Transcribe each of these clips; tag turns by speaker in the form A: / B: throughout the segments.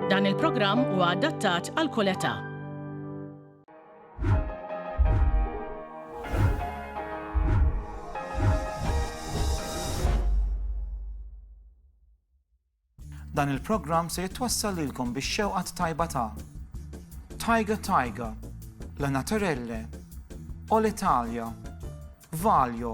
A: Dan il-programm huwa adattat għal kull età.
B: Dan il-programm se jitwassal lilkom biex xewqat tajba ta' Tiger Tiger, La Naturelle, All Italia, Valjo,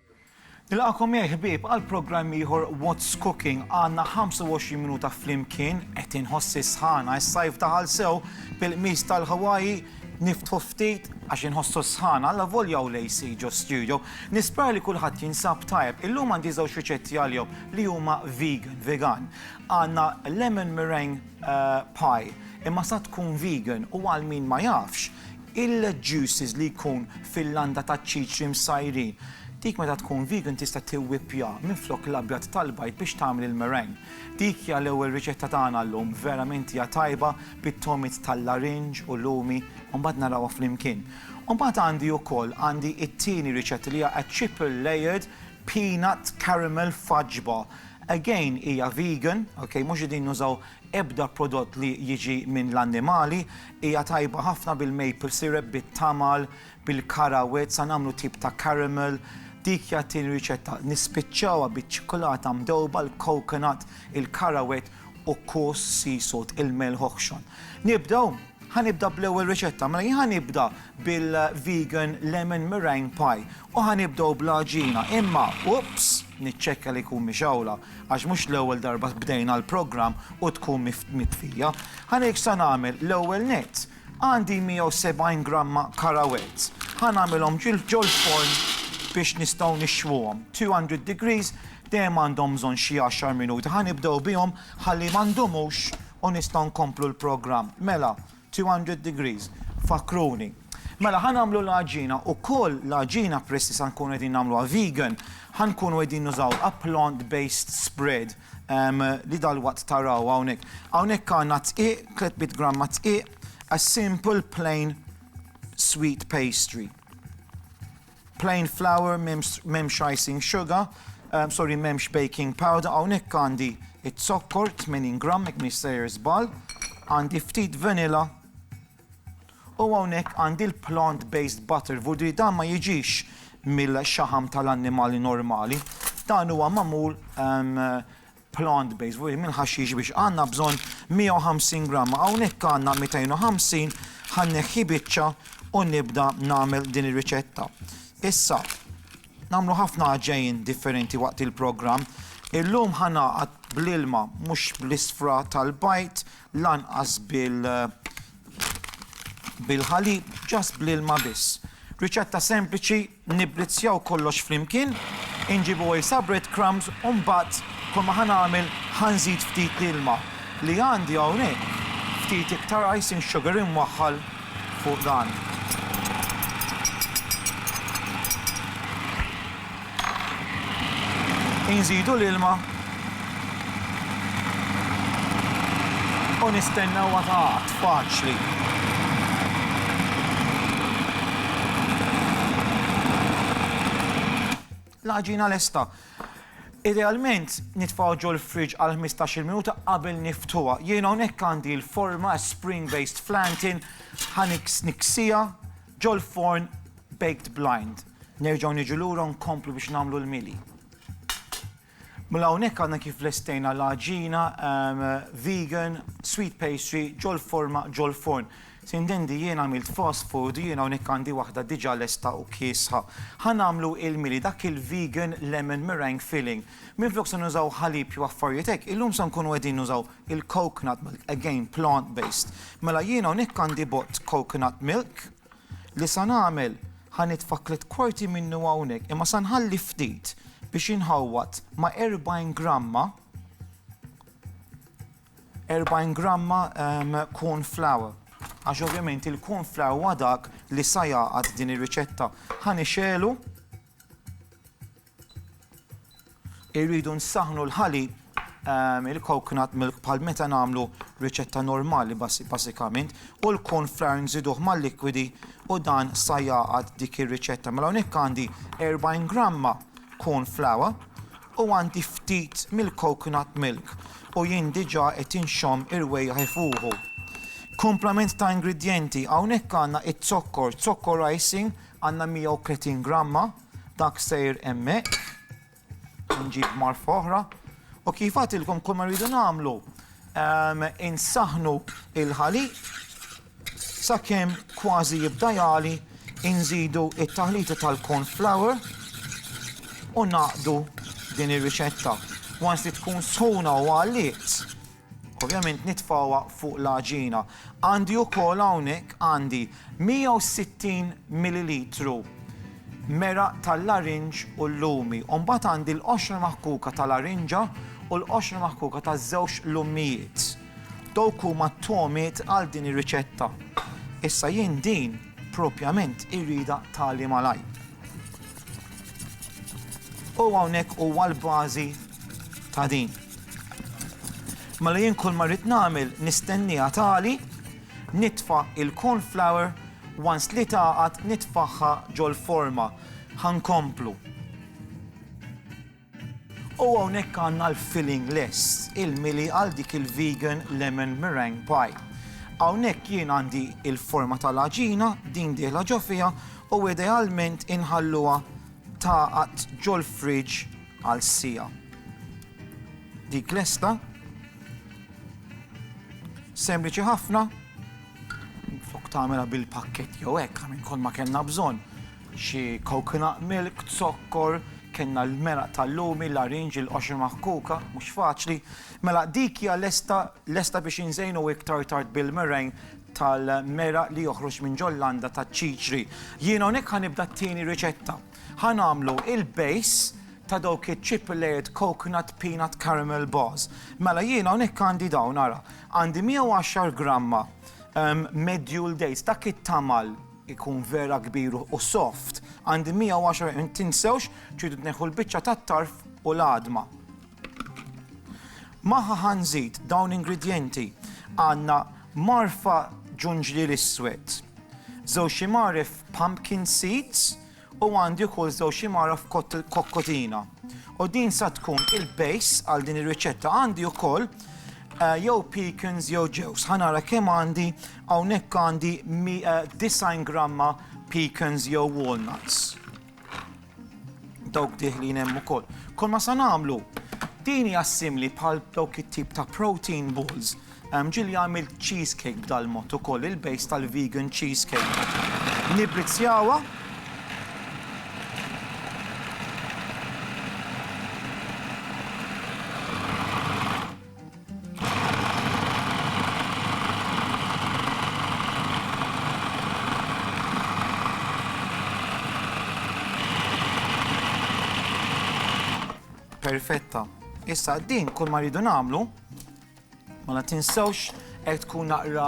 B: Nilqagħkom miegħi ħbieb għal programm ieħor What's Cooking. Għandna 25 minuta flimkien qed inħossi sħana is-sajf daħal sew bil-qmis tal-Hawaii niftħu ftit għax inħossu sħana la volja u lejsi ġo studio. Nispera li kulħadd jinsab tajb. Illum għandi żewġ riċetti għalihom li huma vegan, vegan. Għandna lemon meringue eh, pie imma sa tkun vegan u għal min ma jafx Il-juices li jkun fil-landa taċ-ċiċri msajrin. Dik meta tkun vegan tista' tiwwippja minflok l-abjad tal-bajd biex tagħmel il-meringue. Dik hija l-ewwel riċetta tagħna llum, verament hija tajba bit-togħmiet tal-larinġ u lumi u mbagħad narawha flimkien. U mbagħad għandi ukoll għandi t-tieni riċetta li hija a triple layered peanut caramel fudge bar. Again hija vegan, ok, mhux qegħdin nużaw ebda prodott li jiġi minn l-annimali, Hija tajba ħafna bil-maple syrup, bit-tamal, bil-karawet, sa nagħmlu tip ta' caramel. Dik hija t-tieni riċetta. Nispiċċawha biċ-ċikulata mdewba, l-coconut, il-karawet u kos sea salt, il-melħ oħxon. Nibdew? Ħa nibda bl-ewwel riċetta. Mela jien ħa nibda bil-vegan lemon meringue pie. U ħa nibdew bl-għaġina, imma, oops, niċċekkja li jkun mixgħula, għax mhux l-ewwel darba bdejna l-programm u tkun mitfija. Ħa ngħidx sa nagħmel, l-ewwel nett, għandi 170 gramma karawells. Ħa nagħmilhom ġol-forn biex nistgħu nixwuhom. 200 degrees, dejjem għandhom bżonn xi għaxar minuti. Ħa nibdew bihom ħalli ma ndumux u nistgħu nkomplu l-programm. Mela, Two hundred degrees, fakkruni. Mela ħa nagħmlu l-għaġina, ukoll l-għaġina peress li sa nkunu qegħdin nagħmluha vegan, ħa nkunu qegħdin nużaw a plant based spread li dalwaqt taraw hawnhekk. Hawnhekk għandna dqiq, tliet mitt gramma dqiq, a simple plain sweet pastry. Plain flour m'hemmx icing sugar, sorry m'hemmx baking powder, hawnhekk għandi z-zokkor 80 gramm jekk m'iniex sejjer żball, għandi ftit vanilla u hawnhekk għandi l-plant based butter voudri dan ma jiġix mill-xaħam tal-annimali normali, dan huwa magħmul plant based fuq il-ħaxix biex għandna bżonn 150 gramma hawnhekk għandna 250 ħa nneħħi biċċa u nibda nagħmel din ir-riċetta. Issa nagħmlu ħafna għaġejn differenti waqt il-programm. Illum ħa nagħqad bl-ilma mhux bl-isfra tal-bajt lanqas bil bil-ħalib ġast bl-ilma biss. Riċetta sempliċi Nibbrizzjaw kollox flimkien, inġibu għisa breadcrumbs u mbagħad kull ma ħa nagħmel ħa nżid ftit ilma li għandi hawnhekk, ftit iktar icing sugar imwaħħal fuq dan. Inżidu l-ilma U nistenna huwa ta' qatt faċli. L-għaġina lesta. Idealment nitfgħu ġol fridge għal 15-il minuta qabel niftuha. Jien hawnhekk għandi l-forma spring based flantin ħa niksija ġol forn baked blind. Nerġgħu niġu lura nkomplu biex nagħmlu l-mili. Mela hawnhekk għadna kif lestejna l-għaġina vegan sweet pastry ġol-forma ġol-forn. Sintendi jien għamilt fast food, jien hawnhekk għandi waħda diġà lesta u kiesħa. Ħa nagħmlu il-mili, dak il-vegan lemon meringue filling. Minflok se nużaw ħalib jew affarijiet hekk, illum se nkunu qegħdin nużaw il-coconut milk, again plant based. Mela jien hawnhekk għandi bott coconut milk, Li sa nagħmel, ħa nitfa' tliet kwarti minnu hawnhekk, imma sa nħalli ftit biex jinħawwad ma' erbgħin gramma, erbgħin gramma corn flour. Għax ovvjament il-corn flour huwa dak li sa jgħaqad din ir-riċetta. Ħa nixegħlu. Irridu nsaħħnu l-ħalib, il-coconut milk bħal meta nagħmlu riċetta normali basikament u l-corn flour nżiduh mal-likwidi u dan sa jgħaqad dik ir-riċetta. Mela hawnhekk għandi 40 gramma corn flour u għandi ftit mill-coconut milk u jien diġà qed inxomm irwejjaħ ifuħu. Komplement ta' ingredjenti hawnhekk għandna it-zokkor, zokkor icing għandna 130 gramma Dak sejr hemmhekk, nġib marfa oħra, u kif għatilkom kull ma rridu nagħmlu ehm, insaħnu il-ħalib sakemm kważi jibda jali inżidu it-taħlita tal-corn flour u naqdu din ir-riċetta. Once li tkun sħuna u għalliet, Ovvjament nitfgħuha fuq l-għaġina. Għandi wkoll hawnhekk għandi 160 millilitru meraq tal-larinġ u l-lumi u mbagħad għandi l-qoxra maħkuka ta' larinġa u l-qoxra maħkuka ta' żewġ lummijiet. Dawk huma t-togħmiet għal din ir-riċetta. Issa jien din propjament irridha tagħli malajr. U hawnhekk huwa l-bażi ta' din. Mela jien kull ma rrid nagħmel nistenniha tagħli, nitfa' il-corn flour, once li tagħqad nitfagħha ġol-forma. Ħa nkomplu. U hawnhekk għandna l-filling lest, il-mili għal dik il-vegan lemon meringue pie. Hawnhekk jien għandi l-forma tal-għaġina, din dieħla ġo fiha u idealment inħalluha tagħqad ġol-fridge għal siegħa. Dik lesta. Sempliċi ħafna. Flok tagħmilha bil-pakkett jew hekk minn kol ma kellna bżonn. Xi coconut milk, zokkor, kellna l-meraq tal-lumi, l-arinġ, il-qoxi maħkuka, mhux faċli. Mela dik hija lesta lesta biex inżejnu iktar tard bil-mereng tal-meraq li joħroġ minn ġol-landa taċ-ċiċri. Jiena hawnhekk ħanibda t-tieni riċetta. Ħa nagħmlu il-base ta' dawk iċ-chip layered coconut peanut caramel bars. Mela jiena hawnhekk għandi dawn ara. Għandi 110 gramma medjool dates, dak it-tamal ikun vera kbir u soft. Għandi 110 tinsewx tridu tneħħu l-biċċa tat-tarf u l-għadma. Magħha ħa nżid dawn l-ingredjenti. Għandna marfa ġunġliel iswed, żewġ imaref pumpkin seeds u għandi wkoll żewġ imaref kokkotina. U din sa tkun il-base għal din ir-riċetta għandi wkoll eh, jew pecans jew ġews. Ħanara kemm għandi hawnhekk għandi 90 eh, gramma pecans jew walnuts. Dawk diħlin hemm ukoll. Kol ma sa nagħmlu, din hija simli bħal dawk it-tip ta' protein balls. Ehm, ġili għamil cheesecake b'dal mod ukoll, il-base tal-vegan cheesecake. Nibrizzjawa. Perfetta. Issa din kull ma rridu nagħmlu ma la tinsewx Hekk tkun naqra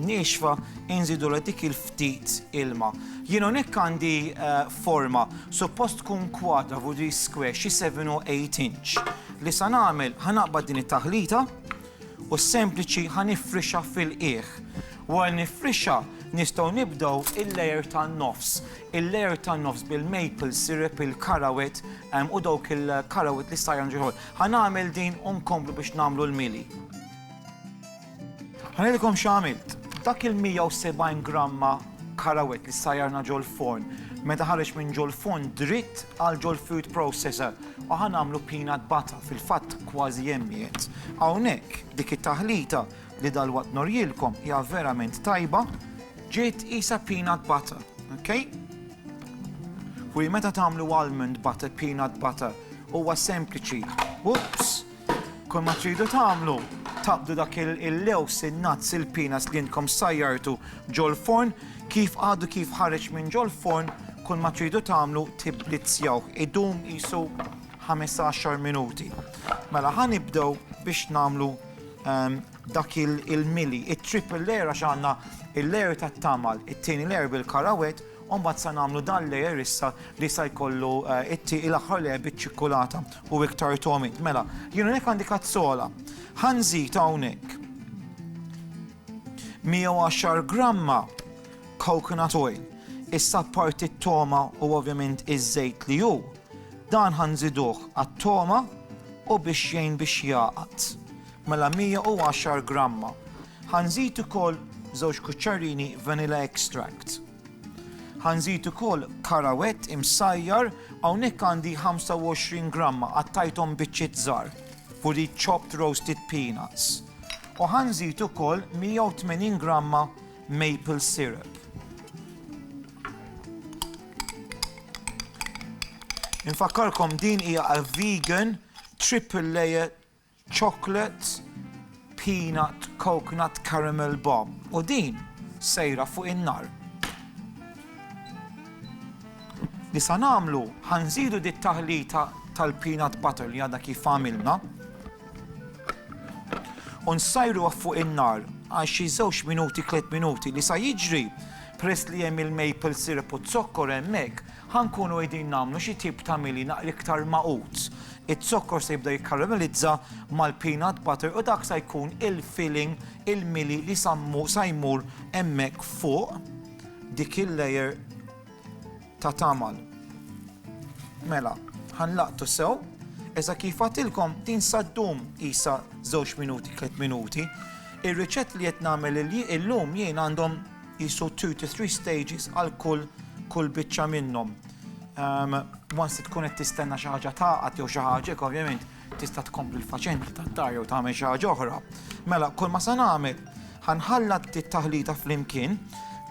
B: niexfa, inżidu l-etikil ftit ilma. Jien hawnhekk għandi eh, forma, suppost tkun kwadra u di square xi 7 u 8 inch. Li sa nagħmel ħanaqbad din it-taħlita u sempliċi ħanifrixa fil-qiegħ. Wara nifrixa nistgħu nibdew il-layer tan-nofs. Il-layer tan-nofs bil-maple syrup, il-karawet eh, u dawk il-karawet li sajran ġeħol. Ħanagħmel din u nkomplu biex nagħmlu l-mili. Ħa ngħidilkom x'għamilt. Dak il-170 gramma karawett li ssajjarna ġol-forn, meta ħareġ minn ġol-forn dritt għal ġol-food processor u ħa nagħmlu peanut butter, fil-fatt kważi hemm qiegħed. Hawnhekk dik it-taħlita li dalwaqt norjilkom hija verament tajba, ġiet qisha peanut butter, ok? Ħwieji meta tagħmlu almond butter, peanut butter, huwa sempliċi, oops! Kull ma tridu tagħmlu, taqbdu dak il-lews, il-nats, il-pinas li jintkom sajjartu ġol-forn, kif għadu kif ħareġ minn ġol-forn, kull ma tridu tagħmlu tibblizzjaw. Idum jisu 15 minuti. Mela ħan ibdew biex nagħmlu ehm, dak il-mili, it-triple layer għax għandna il-layer tat-tamal, it-tieni layer bil-karawet, Umbat sa namlu dan layer issa li sa jkollu eh, it-ti il-aħħar layer biċ-ċikkulata. U iktar togħmiet. Mela, jien hawnhekk għandi kazzola. Ħa nżid hawnhekk 110 gramma coconut oil. Issa parti t-toma u ovvjament iż-żejt li hu. Dan ħa nżiduh għat-toma u biex jgħin biex jaqat. Mela 110 gramma. Ħa nżid ukoll żewġ kuċċarini vanilla extract. Ħa nżid ukoll karawett imsajjar, hawnhekk għandi 25 gramma qattajthom biċċiet żgħar, for the chopped roasted peanuts. U ħa nżid ukoll 180 gramma maple syrup. Infakkarkom din hija a vegan triple layer Chocolate Peanut Coconut Caramel Bomb u din sejra fuq in-nar. Li sa nagħmlu ħa nżidu dit-taħlita tal-peanut butter li għadha kif għamilna u nsajruha fuq in-nar għal xi żewġ minuti tliet minuti li sa jiġri peress li hemm il-maple syrup u z-zokkor hemmhekk Ħa nkunu qegħdin nagħmlu xi tip ta' mili naqra iktar magħqud. Iz-zokkor se jibda jikkaramellizza mal-peanut butter u dak sa jkun il-filling, il-mili li sa sa jmur hemmhekk fuq dik il-layer ta' tagħmal. Mela, ħa nlaqtu sew. Iżda kif għadtilkom din sa ddum qisha żewġ minuti, tliet minuti. Ir-riċetti li qed nagħmel illum jien għandhom qisu two to three stages għal kull kull biċċa minnhom. Ehm, once li tkun qed tistenna xi ħaġa taqgħad jew xi ħaġa, ovvjament tista' tkompli l-faċenti tat-tar jew tagħmel xi ħaġa oħra. Mela, kull ma se nagħmel ħanħalla t-taħlita flimkien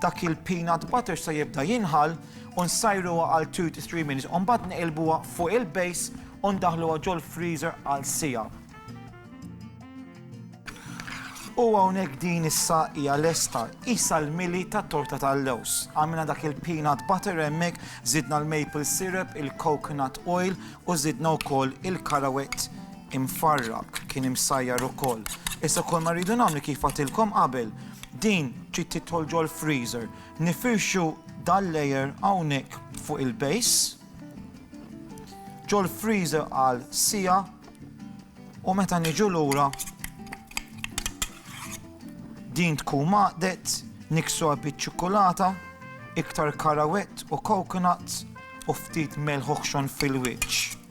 B: dak il-peanut butter se jibda jinħal u nsajru għal 2 to 3 minutes. Umbad neqilbuha fuq il-base u ndaħluha ġol freezer għal sija. U hawnhekk din issa hija lesta, qisha l-mili tat-torta tal-lewż. Għamilna dak il-peanut butter hemmhekk, żidna l-maple syrup, il-coconut oil u żidna wkoll il-karawett imfarrak, kien imsajjar ukoll. Issa kull ma rridu nagħmlu kif għadtilkom qabel, din trid tidħol ġol-freezer. Nifirxu dal-layer hawnhekk fuq il-base, ġol-freezer għal siegħa, U meta niġu lura din tkun maqdet niksuha biċ-ċikkulata, iktar karawett u coconuts u ftit melħ uħxon fil-wiċċ.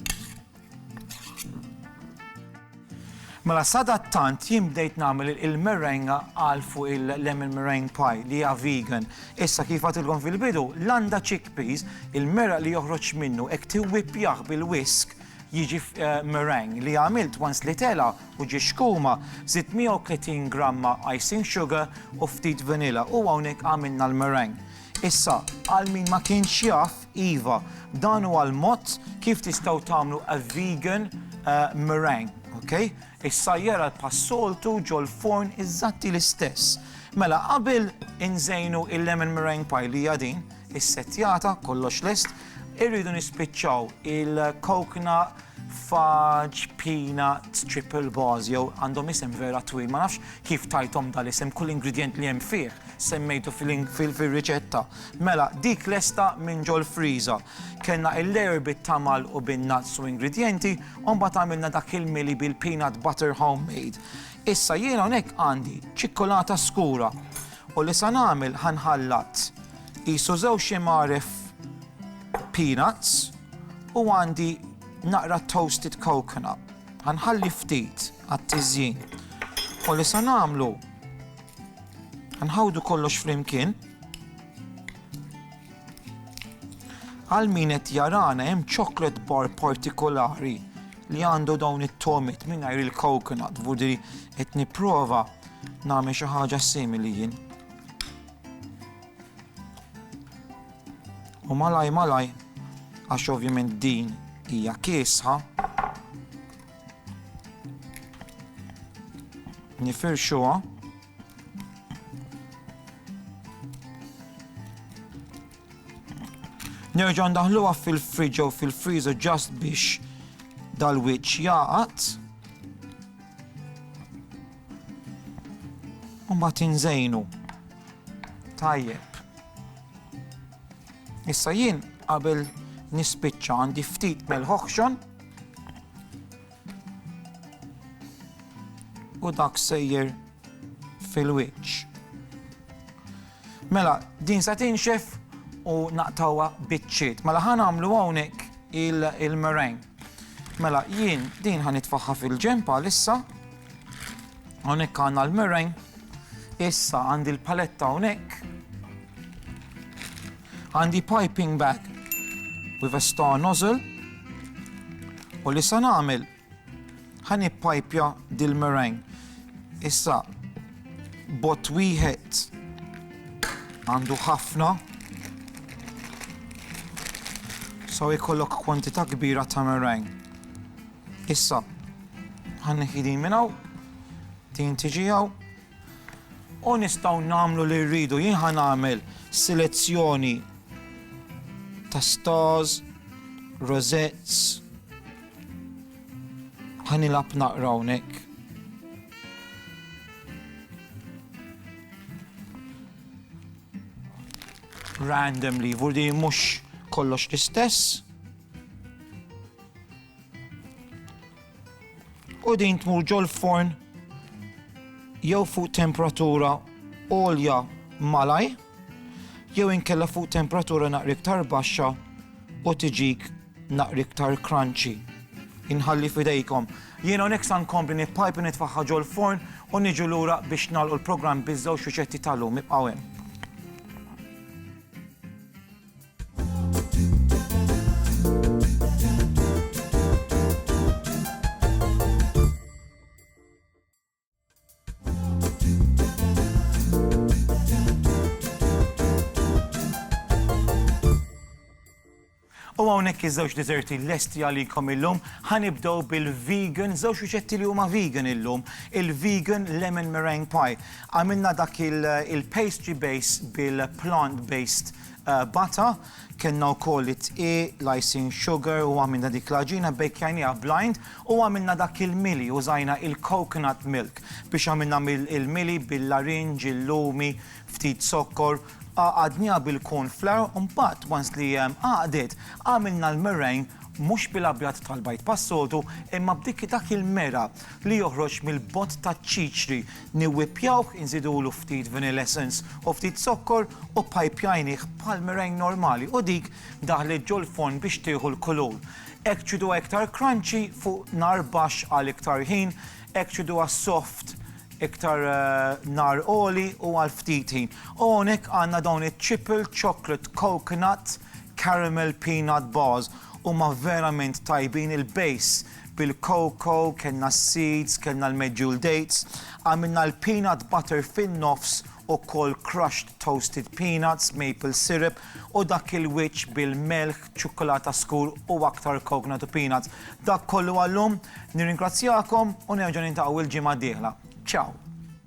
B: Mela sadattant jien bdejt nagħmel il-merenga għal fuq il-lemon meringue pie li hija vegan. Issa kif għatilkom fil-bidu, l-għanda chickpeas, il-mera li joħroġ minnu hekk tiwwippjah bil-wisk jiġi meringue, li għamilt once li tela' u ġie xkuma, żidt 130 gramma icing sugar u ftit vanilla u hawnhekk għamilna l-meringue. Issa, għal min ma kienx jaf, iva, dan huwa l-mod kif tistgħu tagħmlu a vegan meringue, ok? Is-sajjar għal bħas-soltu ġol-furn iżatti l-istess. Mela qabel inżejnu il-lemon meringue pie li hija din, issettjata, kollox lest, irridu nispiċċaw il-coconut fudge peanut triple bars jew għandhom isem vera twil, ma nafx kif tajthom dal-isem, kull ingredient li hemm fih semmejtu fil-riċetta. Mela dik lesta minn ġol-friża. Kellna il-layer bit-tamal u bin-nuts u ingredjenti u mbagħad għamilna dak il-mili bil-peanut butter home made. Issa jiena hawnhekk għandi ċikkulata skura u li sa nagħmel ħa nħallat qisu żewġ imgħaref peanuts u għandi naqra toasted coconut. Ħa nħalli ftit għat-tiżjin. U li sa nagħmlu ħa nħawdu kollox flimkien. Għal min qed jarana hemm chocolate bar partikolari li għandu dawn it-tomiet mingħajr il-coconut, vudi qed nipprova nagħmel xi ħaġa simili jien. U malaj malaj, għax ovvjament din hija kiesħa, nifirxuha Nerġgħu ndaħluha fil-fridge jew fil-freezer ġast biex dal-wiċċ jaqat. U ma tinżejnu. Tajjeb. Issa jien qabel nispiċċa għandi ftit mel-ħoħxon u dak sejjer fil-wiċċ. Mela, din se tinxef u naqtawha biċċiet. Mela ħa nagħmlu hawnhekk il-mereng. Mela jien din ħa nitfaħħa fil-ġempa lissa. Hawnhekk għandna l-mereng. Issa għandi l-paletta hawnhekk. Għandi piping bag with a star nozzle u li se nagħmel ħa nippajpja dil-meringue. Issa bot wieħed għandu ħafna so jkollok kwantità kbira ta' meringue. Issa ħan neħidin minn hawn, tin tiġi hawn, U nistgħu nagħmlu li rridu. Jien ħa nagħmel selezzjoni ta' stars, rosettes. Ħa nilgħab naqra hawnhekk. randomly, vurdi mux kollox l-istess. U din tmur ġol-forn jew fuq temperatura għolja malaj, jew inkella fuq temperatura naqra iktar baxxa u tiġik naqra iktar crunchy. Inħalli fidejkom. Jien hawnhekk sa nkompli nippajp u nitfaħħa ġol-forn u niġu lura biex nagħlqu l-programm biż-żewġ riċetti tal-lum. Ibqgħu hemm. U hawnhekk iż-żewġ deserti lesti għalikom illum, ħanibdew bil-vegan, żewġ riċetti li huma vegan illum, il-vegan lemon meringue pie. Għamilna dak il-pastry base bil-plant-based Bata, kellna wkoll it-tqi, l-icing sugar u għamilna dik l-għaġina, bbejkjajnieha blind u għamilna dak il-mili, użajna il-coconut milk biex għamilna il-mili bil-larinġ, il-lumi, ftit zokkor, għaqadnieha bil-corn flour u mbagħad once li għaqdet għamilna l-meringue mhux bil-abjad tal-bajd bħas-soltu imma b'dik dak il-mera li joħroġ mill-bott taċ-ċiċri Niwwippjawh, inżidulu ftit vanilla essence u ftit zokkor u ppajpjajnih bħal meringue normali u dik daħlet ġol-forn biex tieħu l-kulur. Hekk ċiduha iktar crunchy fuq nar baxx għal iktar ħin, hekk ċiduha soft iktar nar għoli u għal ftit ħin. U hawnhekk għandna dawn iċ-Chipple Chocolate Coconut Caramel Peanut Bars. Huma verament tajbin, il-base bil-cocoa, kellna s-seeds, kellna l-medjool dates, għamilna l-peanut butter fin-nofs u koll crushed toasted peanuts, maple syrup u dak il-wiċċ bil-melħ, ċukkulata skur u aktar coconut u peanuts. Dak kollu għal-lum, nirringrazzjakom u nerġa' niltaqgħu il-ġimgħa d-dieħla. Ciao!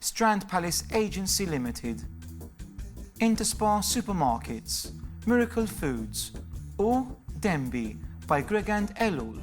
B: Strand Palace Agency Limited, Interspar Supermarkets, Miracle Foods u Denby by Gregand Ellul.